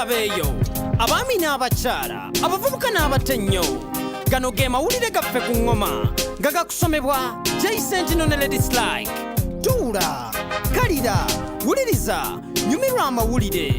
abeeyo abaami n'abakyala abavubuka n'abato ennyo gano ge mawulire gaffe ku ŋŋoma nga gakusomebwa jaisentino ne ledislike tuula kalira wuliriza nyumirwa amawulire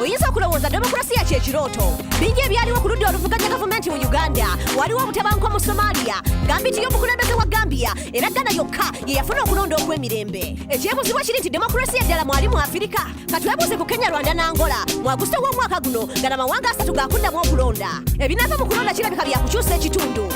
oyinza okulowooza demokulasiya kyekirooto bingi ebyaliwo ku ludda oluvuganya gavumenti mu uganda waliwo obutabanguko mu somalia gambi nti y'omukulembeze wa gambia era ghana yokka ye yafuna okulonda okw'emirembe ekyebuzibwa kiri nti demokulasiya eddala mwali mu afirika katwebuuze ku kenya rwanda n'angola mu agusito w'omwaka guno gana mawanga asatu gakuddamu okulonda ebinaava mu kulonda kirabika byakukyusa ekitundu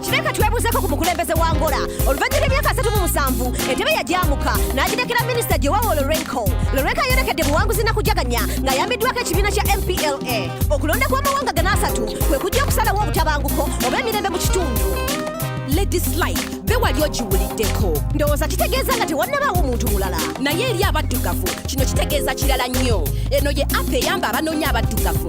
kireka twebuuzeko ku mukulembeze wa ngola oluvannyuma lw'emyaka asatu mu musanvu entebe yagyamuka n'agirekera minisita gyewawo lorenco lorenco ayolekedde buwanguzi na kujaganya ng'ayambiddwako ekibiina kya mpla okulonda kw'amawanga gana asatu kwe kujja okusalawo obutabanguko oba emirembe mu kitundu ladislike be wali ogiwuliddeko ndowooza kitegeeza nga tewannabaawo omuntu mulala naye eri abaddugavu kino kitegeeza kirala nnyo eno ye app eyamba abanoonya abaddugavu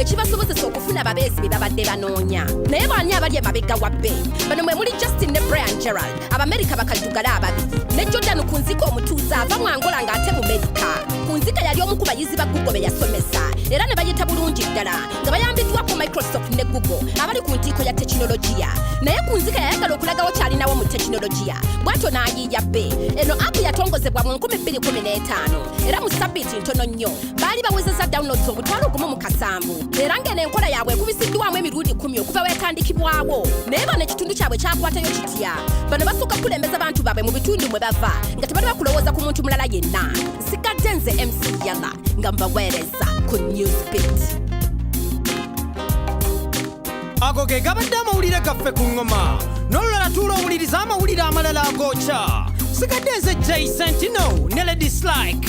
ekibasobozesa okufuna ababeezi be babadde banoonya naye baani abali emabega wa bbe bano mwe muli justin ne brian gerald abamerika bakaddugale ababiri ne jordan ku nzika omutuuze ava mu angola ng'ate mu merika ku nzika yali omu ku bayizi ba google be yasomesa era ne bayita bulungi ddala nga bayambiddwako microsoft ne google abali ku ntiiko ya tekinologiya naye ku nzika yayagala okulagawo kyalinawo mu tekinologiya bwatyo n'ayiiya bbe eno apu yatongozebwa mu 215 era mu sabiiti ntono nnyo baali bawezezza downloads obutwalo gumu mu kasanvu era ng'eno enkola yaabwe ekubisiddwamu emirundi kumi okuva wetandikibwawo naye bano ekitundu kyabwe kyakwatayo kitya bano basooka kukulembeza bantu baabwe mu bitundu mwe bava nga tebali bakulowooza ku muntu mulala yenna nsigadde nze mc yala nga mbaweereza ku newsbit ago ge gabadde amawulire gaffe ku ŋŋoma n'olulala tuula owuliriza amawulire amalala agokya sigadde nze jason tino ne lady slike